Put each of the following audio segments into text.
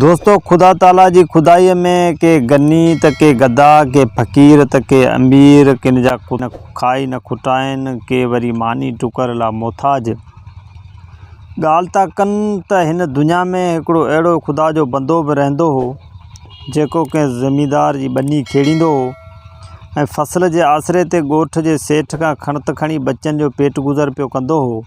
دوستو خدا تعاليٰ جي خدائيء ۾ ڪي غني ته ڪي گدا، ڪي فقير ته ڪي امير، ڪن جا ڪو نه کائي نه کٽائين، ڪي وري ماني ٽڪر لا محتاج. ڳالهه ٿا ڪن ته هن دنيا ۾ هڪڙو اهڙو خدا جو بندو به رهندو هو، جيڪو ڪنهن زميندار جي ٻني کيڙيندو هو ۽ فصل جي آسري تي ڳوٺ جي سيٺ کان کڻت کڻي ٻچن جو پيٽ گذر پيو ڪندو هو.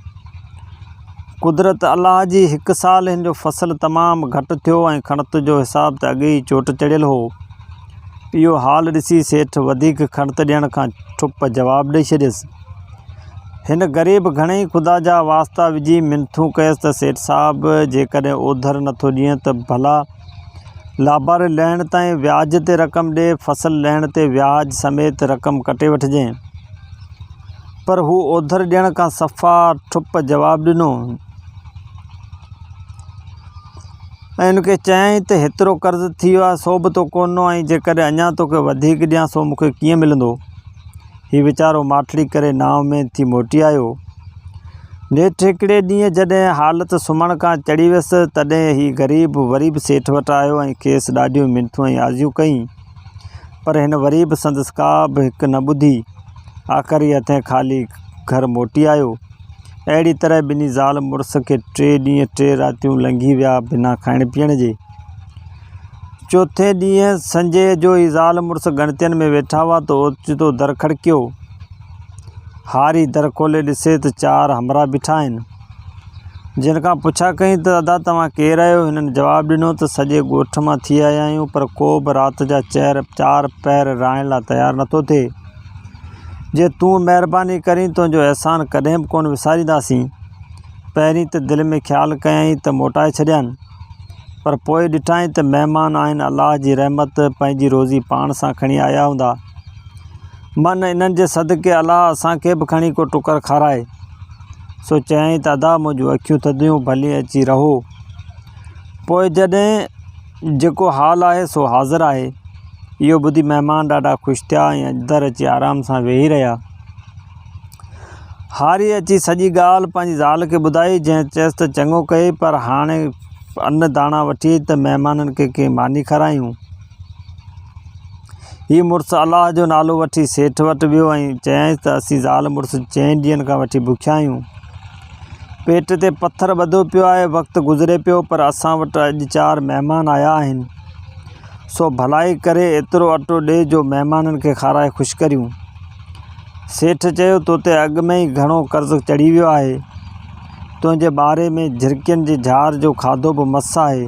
قدرت الله جي هڪ سال هن جو فصل تمام گهٽ ٿيو ۽ کڻت جو حساب ته اڳي ئي چوٽ چڙهيل هو. اهو حال ڏسي سيٺ وڌيڪ کڻت ڏيڻ کان ٺپ جواب ڏئي ڇڏيس. هن غريب گهڻيئي خدا جا واسطا وجهي منٿون ڪيس ته سيٺ صاحب جيڪڏهن اوڌر نٿو ڏينء ته ڀلا لاباري لهڻ تائين وياج تي رقم ڏي، فصل لهڻ تي وياج سميت رقم ڪٽي وٺجين. پر هو اوڌر ڏيڻ کان صفا ٺپ جواب ڏنو ۽ هن کي چيائين ته هيترو قرض ٿي ويو آهي سو به تو ڪونه ڏنو ۽ جيڪڏهن اڃا توکي وڌيڪ ڏيان سو مون کي ڪيئن ملندو؟ هي ويچارو ماٺڙي ڪري نانء ۾ ٿي موٽي آيو. نيٺ هڪڙي ڏينهن جڏهن حالت سمهڻ کان چڙهي ويس، تڏهن هي غريب وري به سيٺ وٽ آيو ۽ کيس ڏاڍيون منٿون ۽ آزيون ڪيئين. پر هن وري به سندس ڪا به هڪ نه ٻڌي. آخري هٿين خالي گهر موٽي آيو. اهڙي طرح ٻنهي زال مڙس کي ٽي ڏينهن ٽي راتيون لنگهي ويا بنا کائڻ پيئڻ جي. چوٿين ڏينهن سنجيء جو ئي زال مڙس ڳڻتين ۾ ويٺا هئا ته اوچتو در کڙڪيو. هاري در کولي ڏسي ته چار همراهه بيٺا آهن. جن کان پڇا ڪئين ته ادا توهان ڪير آهيو؟ هنن جواب ڏنو ته سڄي ڳوٺ مان ٿي آيا آهيون پر ڪو به رات جا چهر چار پهر رهائڻ لاء تيار نٿو ٿئي. جي تون مهرباني ڪرين تنهنجو احسان ڪڏهن به ڪونه وسارينداسين. پهرين ته دل ۾ خيال ڪيائين ته موٽائي ڇڏيان. پر پوء ڏٺائين ته مهمان آهن الله جي رحمت پنهنجي روزي پاڻ سان کڻي آيا هوندا. من انهن جي صدقي الله اسان کي به کڻي ڪو ٽڪر کارائي. سو چيائين ته ادا منهنجون اکيون ٿڌيون ڀلي اچي رهو. پوء جڏهن جيڪو حال آهي سو حاضر آهي. اهو ٻڌي مهمان ڏاڍا خوش ٿيا ۽ اڄ در اچي آرام سان ويهي رهيا. هاريء اچي سڄي ڳالهه پنهنجي زال کي ٻڌائي، جنهن چيس ته چڱو ڪيئي، پر هاڻي ان داڻا وٺي اچ ته مهمانن کي ڪي ماني کارايون. هي مڙس الله جو نالو وٺي سيٺ وٽ ويو ۽ چيائينس ته اسين زال مڙس چئن ڏينهن کان وٺي بکيا آهيون. پيٽ تي پٿر ٻڌو پيو آهي، وقت گذري پيو، پر اسان وٽ اڄ چار مهمان آيا آهن. سو ڀلائي ڪري ايترو اٽو ڏي جو مهمانن کي کارائي خوش ڪريون. سيٺ چيو، تو تي اڳ ۾ ئي گهڻو قرض چڙهي ويو آهي. تنهنجي ٻاري ۾ جهرڪين جي جهار جو کاڌو به مس آهي.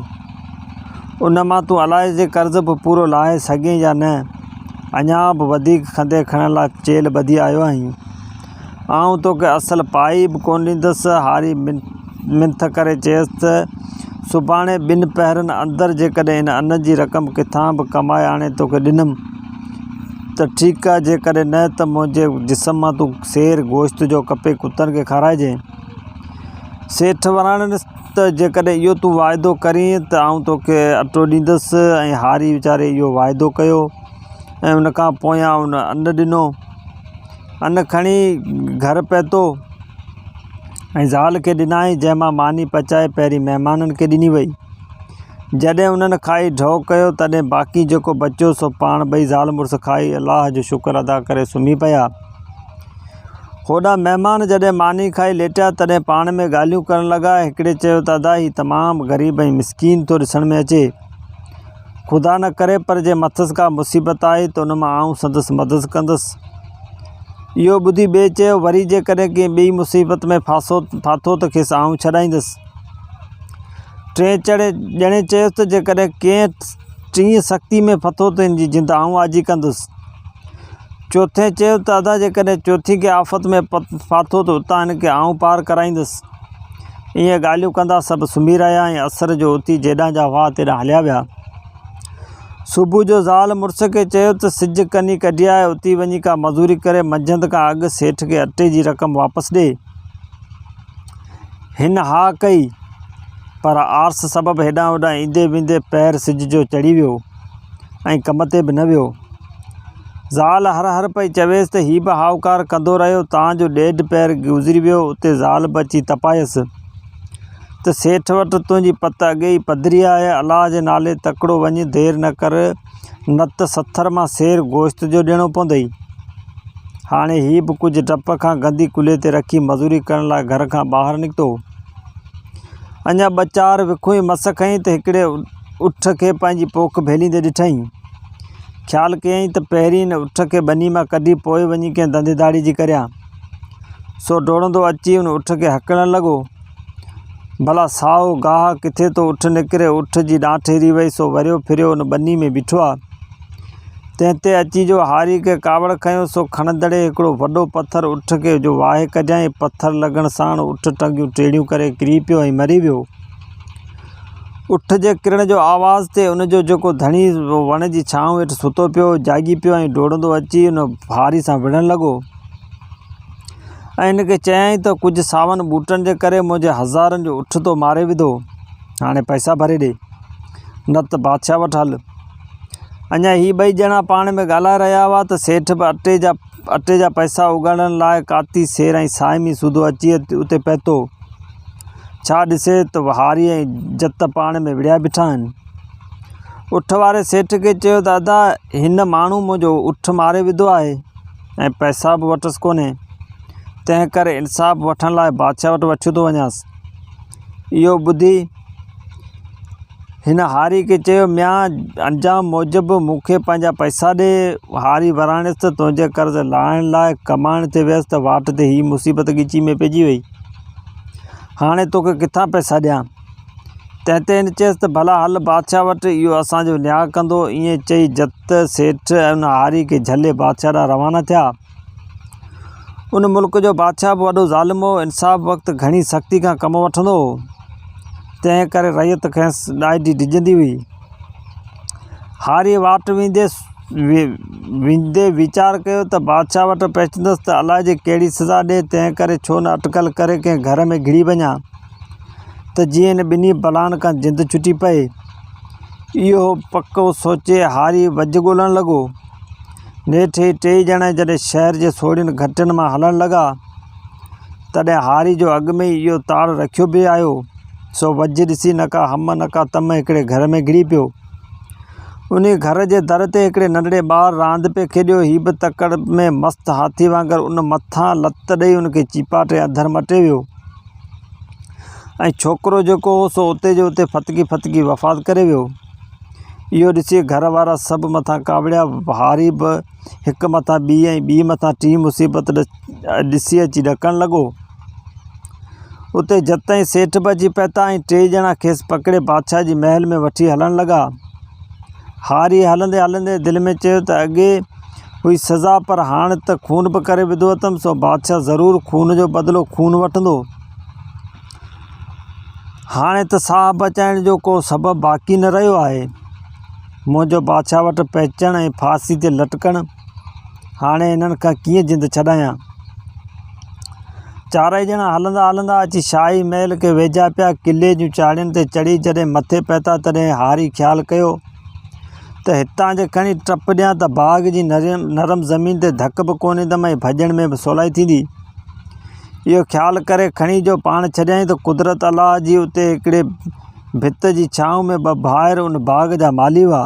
ان مان تون الائي جي قرض به پورو لاهي سگهين يا نه. اڃا به وڌيڪ کنڌي کڻڻ لاء چيلهه ٻڌي آيو آهين. آئون توکي اصل پائي به ڪونه ڏيندس. هاري منٿ ڪري چيس ته، سڀاڻي ٻن پهرن اندر جيڪڏهن هن ان جي رقم ڪٿان به ڪمائي آڻي توکي ڏنم ته ٺيڪ آ، جيڪڏهن نه ته منهنجي جسم مان تون سير گوشت جو ڪپي ڪتن کي کارائجين. سيٺ وراڻيس ته، جيڪڏهن اهو تون واعدو ڪرين ته آئون توکي اٽو ڏيندس ۽ هاري ويچاري اهو واعدو ڪيو ۽ ان کان پويان ان اٽو ڏنو. ان کڻي گهر پهتو ۽ زال کي ڏنائين، جنهن مان ماني پچائي پهرين مهمانن کي ڏني وئي. جڏهن انهن کائي ڍؤ ڪيو، تڏهن باقي جيڪو بچيو، سو پاڻ ٻئي زال مڙس کائي، الله جو شڪر ادا ڪري سمهي پيا. هوڏانهن مهمان جڏهن ماني کائي ليٽيا، تڏهن پاڻ ۾ ڳالهيون ڪرڻ لڳا. هڪڙي چيو ته ادا هي تمام غريب ۽ مسڪين ٿو ڏسڻ ۾ اچي. خدا نه ڪري پر جي مٿس ڪا مصيبت آئي ته ان مان آئون سندس مدد ڪندس. اهو ٻڌي ٻئي چيو، وري جيڪڏهن ڪنهن ٻيئي مصيبت ۾ ڦاسو ڦاٿو ته کيس آئون ڇڏائيندس. ٽئين چڙي ڄڻي چيس ته جيڪڏهن ڪنهن ٽينء سختي ۾ ڦٿو ته ان جي جند آئون آجي ڪندس. چوٿين چيو ته ادا جيڪڏهن چوٿين ڪنهن آفت ۾ ڦاٿو ته اتان هن کي آئون پار ڪرائيندس. ايئن ڳالهيون ڪندا سڀ سمهي رهيا ۽ عصر جو اتي جيڏانهن جا هئا تيڏانهن هليا ويا. صبح جو زال مڙس کي چيو ته سج ڪني ڪڍي آهي، اتي وڃي ڪا مزوري ڪري منجهند کان اڳ سيٺ کي اٽي جي رقم واپس ڏي. هن ها ڪئي، پر آرس سبب هيڏانهن هوڏانهن ايندي ويندي پهر سج جو چڙهي ويو. ۽ ڪم تي به نه ويو. زال هر هر پئي چويس ته هي به هائوڪار ڪندو رهيو تان جو ڏيڍ پهر گذري ويو اتي زال به اچي تپايس ته سيٺ وٽ تنهنجي پت اڳي ئي پڌري آهي الله جي نالي تڪڙو وڃ دير نه ڪر نت سٿر مان سير گوشت جو ڏيڻو پوندئي. هاڻي هي به ڪجهه ڊپ کان گندي ڪلهي تي رکي مزوري ڪرڻ لاء گهر کان ٻاهر نڪتو. اڃا ٻه چار وکون ئي مس کنئي ته هڪڙي اٺ کي پنهنجي پوک ڀيليندي ڏٺائين. خيال ڪيائين ته پهرين ان اٺ کي ٻني مان ڪڍي پوء وڃي ڪنهن ڌنڌي ڌاڙي جي ڪريان. سو ڊوڙندو اچي ان اٺ کي هڪڻڻ لڳو. ڀلا سائو گاهه ڪٿي ٿو اٺ نڪري، اٺ جي ڏانٺ هري وئي سو وريو ڦريو ان ٻني ۾ بيٺو آ. تنهن تي اچي جو هاري کي ڪاوڙ کنيو سو کڻندڙي هڪڙو وڏو پٿر اٺ کي جو واهي ڪڍيائين، پٿر لڳڻ ساڻ اٺ ٽنگيون ٽيڙيون ڪري ڪري پيو ۽ مري ويو. اٺ جي ڪرڻ جو آواز تي ان جو جيڪو ڌڻي وڻ جي ڇانو هيٺ ستو پيو هو، جاڳي پيو ۽ ڊوڙندو اچي ان ڀاري سان وڙهڻ لڳو ۽ ان کي چيائين ته ڪجهه ساون ٻوٽن جي ڪري منهنجي هزارن جو اٺ تو ماري وڌو، هاڻي پئسا ڀري ڏي، نه ته بادشاهه وٽ هل. اڃا هي ٻئي ڄڻا پاڻ ۾ ڳالهائي رهيا هئا ته سيٺ به اٽي جا اٽي جا پئسا اوڳاڙڻ لاء ڪاتي سير ۽ صائمي سوڌو اچي اتي پهتو. ڇا ڏسي ته وهاري ۽ جت پاڻ ۾ وڙهيا بيٺا آهن. اٺ واري سيٺ کي چيو ته ادا هن ماڻهو منهنجو اٺ ماري وڌو آهي ۽ پئسا به وٽس ڪونهي تنهن ڪري انصاف وٺڻ لاء بادشاهه وٽ وٺيو ٿو وڃانس. اهو ٻڌي هن هاري کي چيو ميان انجام موجب مون کي پنهنجا پئسا ڏي. هاري وراڻيس ته تنهنجي قرض لاهڻ لاء ڪمائڻ تي ويس ته واٽ تي هي مصيبت ڳچي ۾ پئجي وئي. هاڻي توکي ڪٿان پئسا ڏيان؟ تنهن تي هن چيس ته ڀلا هل بادشاهه وٽ، اهو اسان جو نياء ڪندو. ائين چئي جت سيٺ ۽ ان هاري کي جهلي بادشاهه ڏانهن روانا ٿيا. ان ملڪ جو بادشاهه به وڏو ظالم هو، انصاف وقت گهڻي سختي کان ڪم وٺندو هو، تنهن ڪري رعيت کيس ڏاڍي ڊڄندي هئي. هاريء واٽ ويندي ويندي ويچار ڪيو ته بادشاهه وٽ پهچندس ته الائي جي ڪهڙي سزا ڏئي، تنهن ڪري ڇو نه اٽڪل ڪري ڪنهن گهر ۾ گهڙي وڃان ته جيئن هن ٻنهي بلائن کان جند ڇٽي پئي. اهو پڪو سوچي هاري وجهه ڳولڻ لڳو. نيٺ هي ٽيئي ڄڻا جڏهن شهر جي سوڙهين گهٽين مان هلڻ لڳا، تڏهن هاري جو اڳ ۾ ئي اهو تاڙ رکيو بيهي آيو. سو وجهه ڏسي نه ڪا هم نه ڪا تم هڪڙي گهر ۾ گهڙي پيو. انهيء گهر جي در تي هڪڙي ننڍڙي ٻار راند پئي کيڏيو. هي به تڪڙ ۾ مست هاٿي وانگر ان مٿان لت ڏئي ان کي چيپاٽي اڌر مٽي ويو ۽ ڇوڪرو جيڪو هو سو اتي جو اتي ڦٿڪي ڦٿڪي وفات ڪري ويو. اهو ڏسي گهر وارا سڀ مٿان ڪاوڙيا. هاري به هڪ مٿان ٻي ۽ ٻي مٿان ٽين مصيبت ڏسي اچي ڏڪڻ لڳو. اتي جت تائين سيٺ به اچي پهتا ۽ ٽي ڄڻا کيس پڪڙي بادشاهه جي محل ۾ وٺي هلڻ لڳا. هاريء هلندي هلندي دل ۾ چيو ته اڳي هئي سزا پر هاڻ ته خون به ڪري وڌو اٿم سو بادشاهه ضرور خون جو بدلو خون وٺندو. هاڻي ته ساهه بچائڻ جو ڪو سبب باقي نه رهيو آهي. منهنجو بادشاهه وٽ پهچڻ ۽ ڦاسي تي لٽڪڻ هاڻي انهن کان ڪيئن جند ڇڏايان. چارئي ڄڻا هلندا هلندا اچي شاهي محل کي ويجها پيا. قلعي جون چاڙهين تي چڙهي جڏهن مٿي پهتا تڏهن هاري خيال ڪيو ته هتان جي کڻي ٽپ ڏيان ته باغ جي نرم زمين تي ڌڪ به ڪو ڏيندم ۽ ڀڄڻ ۾ به سولائي ٿيندي. اهو خيال ڪري کڻي جو پاڻ ڇڏيائين ته قدرت الله جي اتي هڪڙي ڀت جي ڇانو ۾ ٻه ڀائر ان باغ جا مالهي هئا.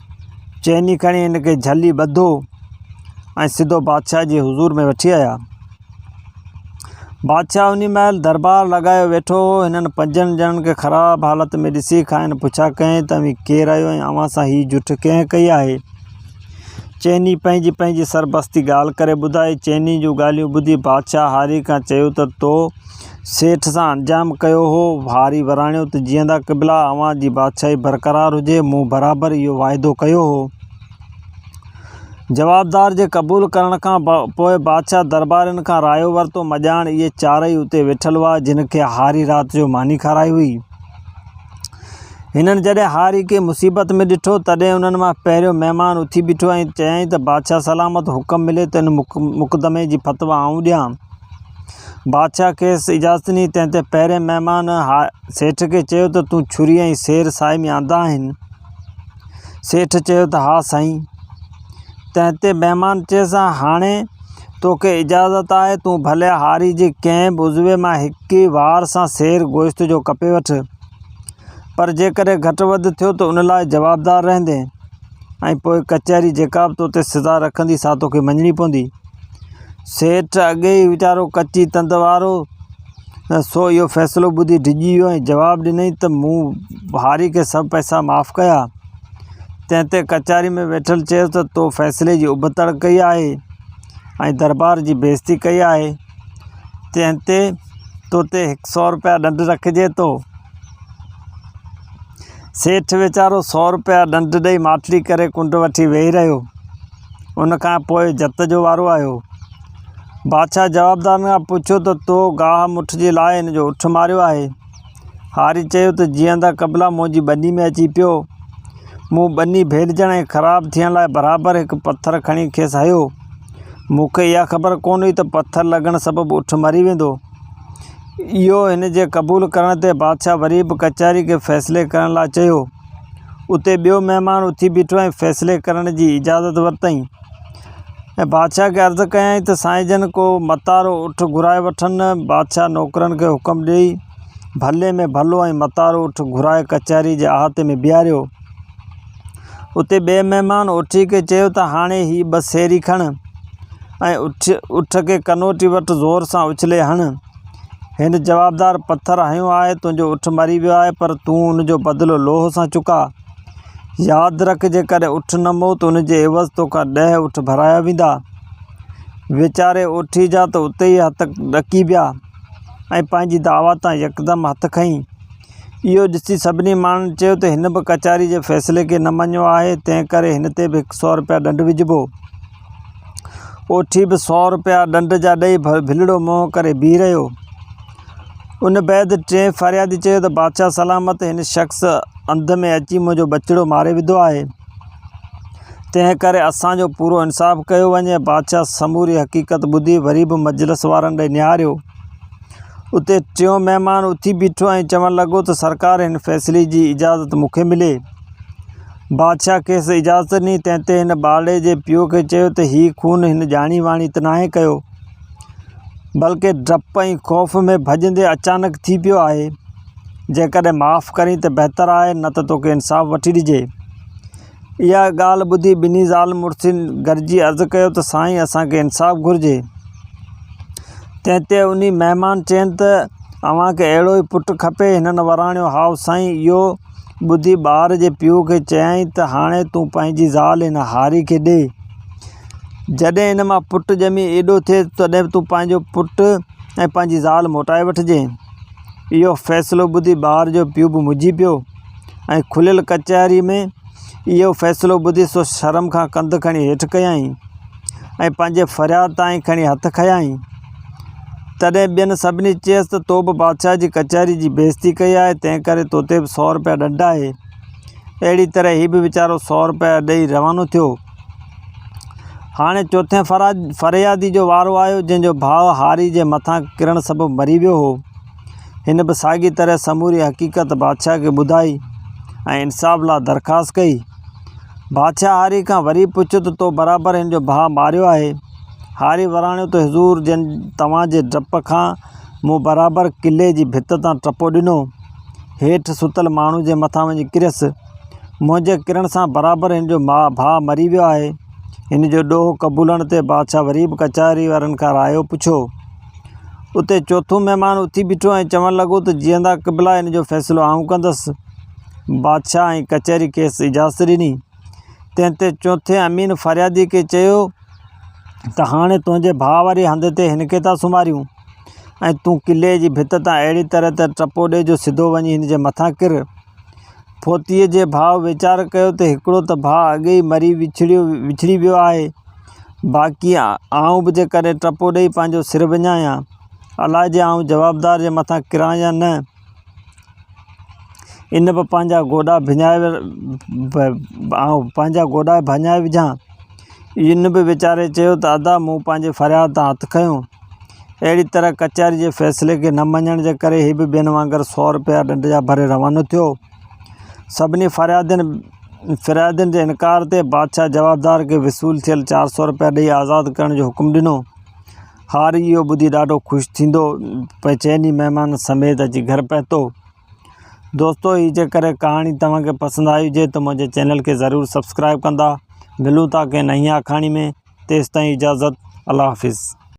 چيني کڻي هن کي جهلي ٻڌو ۽ سڌو بادشاهه جي حضور ۾ وٺي آيا بادشاهه انهي مهل دربار لڳايو ويٺو هو هنن پنجن ڄڻن کي خراب حالت ۾ ڏسي کائن پڇا ڪيائين ته اوهين ڪير آهيو ۽ اوهان سان هي جٺ ڪنهن ڪئي آهي چيني پنهنجي پنهنجي سربستي ڳالهه ڪري ٻڌائي چيني جون ڳالهيون ٻڌي بادشاهه هاري کان چيو ته تو سيٺ سان انجام ڪيو هو. هاري وراڻيو ته جيئندا قبلا، اوهان جي بادشاهي برقرار هجي، مون برابر اهو واعدو ڪيو هو. جوابدار جي قبول ڪرڻ کان پوء بادشاهه دربارين کان رايو ورتو. مڄاڻ اهي چارئي اتي ويٺل هئا، جن کي هاري رات جو ماني کارائي هئي. هنن جڏهن هاري کي مصيبت ۾ ڏٺو، تڏهن انهن مان پهريون مهمان اٿي بيٺو ۽ چيائين ته بادشاهه سلامت، حڪم ملي ته ان مقدمي جي فتويٰ آئون ڏيان. بادشاهه کيس اجازت ڏني، تنهن تي پهرين مهمان هاء سيٺ کي چيو ته تون ڇري ۽ سير ساهي ۾ آندا آهن؟ سيٺ چيو ته ها سائين! تنهن تي مهمان چيس ها هاڻي تو کي اجازت آهي، تون ڀلي هاري جي ڪنهن به عضوي مان هڪ ئي وار سان سير گوشت جو ڪپي وٺ، پر جيڪڏهن گهٽ وڌ ٿيو ته ان لاء جوابدار رهندين ۽ پوء ڪچهري جيڪا به تو تي سزا رکندي سا تو کي مڃڻي پوندي. سيٺ اڳي ئي ويچارو ڪچي تند وارو هو، سو اهو فيصلو ٻڌي ڊڄي ويو ۽ جواب ڏنائين ته مون هاري کي سڀ پئسا معاف ڪيا. تنهن تي ڪچهري ۾ ويٺل چيس ته تو فيصلي جي ابتڙ ڪئي آهي ۽ دربار جي بيعزتي ڪئي آهي، تنهن تي تو تي هڪ سؤ رپيا ڏنڊ رکجي ٿو. سيٺ ويچارو سؤ رپيا ڏنڊ ڏئي ماٺلي ڪري ڪنڊ وٺي ويهي رهيو. ان کان پوء جت جو وارو آيو. بادشاهه جوابدارن کان پڇيو ته تو گاهه مٺ جي لاء هن جو اٺ ماريو آهي؟ هاري چيو ته جيئندا قبلا منهنجي ٻني ۾ اچي پيو. مون ٻني ڀيڏجڻ ۽ خراب ٿيڻ لاء برابر هڪ پٿر کڻي کيس هنيو. مون کي اها خبر ڪونه هئي ته پٿر لڳڻ سبب اٺ مري ويندو. اهو هن جي قبول ڪرڻ تي بادشاهه وري به ڪچهري کي فيصلي ڪرڻ لاء چيو. اتي ٻيو مهمان اٿي بيٺو ۽ فيصلي ڪرڻ جي اجازت ورتائين ۽ بادشاهه کي عرض ڪيائين ته سائين جن ڪو متارو اٺ گهرائي وٺن. بادشاهه نوڪرن کي حڪم ڏيئي ڀلي ۾ ڀلو ۽ متارو اٺ گهرائي ڪچهري جي احاطي ۾ بيهاريو. اتي ٻئي مهمان اٺي کي چيو ته هاڻي هي ٻه سيري کڻ ۽ اٺ کي ڪنوٽي وٽ زور سان اڇلي هڻ. هن جوابدار پٿر هنيو آهي، تنهنجو اٺ مري ويو آهي، پر تون ان جو بدلو لوهه سان چڪاء. ياد رک، جيڪڏهن اٺ نه مئو ته ان جي عيوض توکان ڏهه اٺ ڀرايا ويندا. ويچاري اوٺي جا ته اتي ئي هٿ ڏڪي ويا ۽ پنهنجي دعويٰ تان يڪدم هٿ کنئي. اهو ڏسي سڀني ماڻهن چيو ته هن به ڪچهري جي فيصلي کي نه مڃيو آهي، تنهنڪري هن تي به هڪ سؤ رپيا ڏنڊ وجهبو. اوٺي به سؤ روپيا ڏنڊ جا ڏئي ڀلڙو منهن ڪري بيهي رهيو. ان بعد ٽئين فريادي چيو ته بادشاهه سلامت هن شخص انڌ ۾ اچي منهنجو ٻچڙو ماري وڌو آهي. تنهن ڪري اسان جو پورو انصاف ڪيو وڃي. بادشاهه سموري حقيقت ٻڌي وري به مجلس وارن ڏي نهاريو. اتي ٽيون مهمان اٿي بيٺو ۽ چوڻ لڳو ته سرڪار هن فيصلي جي اجازت مون کي ملي. بادشاهه کيس اجازت ڏني، تنهن تي هن ٻارڙي جي پيء کي چيو ته هي خون هن ڄاڻي واڻي ته ناهي ڪيو، بلڪه ڊپ ۽ خوف ۾ ڀڄندي اچانڪ ٿي پيو آهي. جيڪڏهن معاف ڪرين ته بهتر آهي، نه ته توکي انصاف وٺي ڏجي. اها ڳالهه ٻڌي ٻنهي زال مڙسين گڏجي عرض ڪيو ته سائين اسان کي انصاف گهرجي. تنهن تي انهي مهمان چين ته اوهان کي اهڙو ئي پٽ کپي؟ هنن وراڻيو هائو سائين اهو. ٻڌي ٻار جي پيء کي چيائين ته هاڻي تون پنهنجي زال هن هاري کي ڏي. جڏهن هن مان پٽ ڄمي ايڏو ٿئي تڏهن به تون پنهنجو پٽ ۽ پنهنجي زال موٽائي وٺجئين. اهو فيصلو ٻڌي ٻار جو پيء به مجهي پيو ۽ کليل ڪچهري ۾ اهو فيصلو ٻڌي سو شرم کان ڪنڌ کڻي هيٺ ڪيائين ۽ پنهنجي فرياد تائين کڻي هٿ کنيائين. تڏهن ٻين سڀني چيس ته تو به بادشاهه جي ڪچهري جي بيعزتي ڪئي آهي، تنهن ڪري تو تي به سؤ رپيا ڏنڊ آهي. اهڙي طرح هي به ويچارو سؤ رپيا ڏئي روانو ٿيو. هاڻي چوٿين فريادي جو وارو آيو، جنهن جو ڀاء هاري جي مٿان ڪرڻ سبب مري ويو هو. هن به ساڳي طرح سموري حقيقت بادشاهه کي ٻڌائي ۽ انصاف لاء درخواست ڪئي. بادشاهه هاري کان وري پڇيو ته تو برابر هن جو ڀاء ماريو آهي. هاري وراڻيو ته حضور جن توهان جي ڊپ کان مون برابر قلعي جي ڀت تان ٽپو ڏنو، هيٺ ستل ماڻهو جي مٿان وڃي ڪريس، منهنجي ڪرڻ سان برابر هن جو ڀاء مري ويو آهي. هن جو ڏوهه قبولڻ تي بادشاهه وري به ڪچهري وارن کان رايو پڇيو. اتي چوٿون مهمان اٿي بيٺو ۽ چوڻ لڳو ته جيئندا قبلا هن جو فيصلو آئون ڪندس. بادشاهه ۽ ڪچهري کيس اجازت ڏني. تنهن تي چوٿين امين فريادي کي چيو ته هاڻي تنهنجي ڀاء واري هنڌ تي هن کي ٿا سمهاريون ۽ تون قلعي جي ڀت تان اهڙي طرح ته ٽپو ڏي جو سڌو وڃي هن جي مٿان ڪر. ڦوتيء جي ڀاء ويچار ڪيو ته هڪڙو ته ڀاء اڳي ئي مري وڇڙيو وڇڙي ويو آهي، باقي آئون به جيڪڏهن ٽپو ڏيئي پنهنجو سر وڃايان، الاء جي آئون جوابدار جي مٿان ڪران يا نه. ان به پنهنجا گوڏا ڀڃائي آئون پنهنجا گوڏا ڀڃائي وجهاء ان به ويچاري چيو ته ادا مون پنهنجي فرياد تان هٿ کنيو اهڙي طرح ڪچهري جي فيصلي کي نه مڃڻ جي ڪري هي به ٻين وانگر سؤ روپيا ڏنڊ جا ڀري روانو ٿيو سڀني فريادين فريادين جي انڪار تي بادشاهه جوابدار کي وصول ٿيل چار سؤ روپيا ڏيئي آزاد ڪرڻ جو حڪم ڏنو هاري اهو ٻڌي ڏاڍو خوش ٿيندو پئي چئني مهمان سميت اچي گهر پهتو دوستو هي جي ڪري ڪهاڻي توهان کي پسند آئي هجي ته منهنجي چينل کي ضرور سبسڪرائب ڪندا ملون ٿا ڪنهن نئين آکاڻي ۾ تيستائين اجازت الله حافظ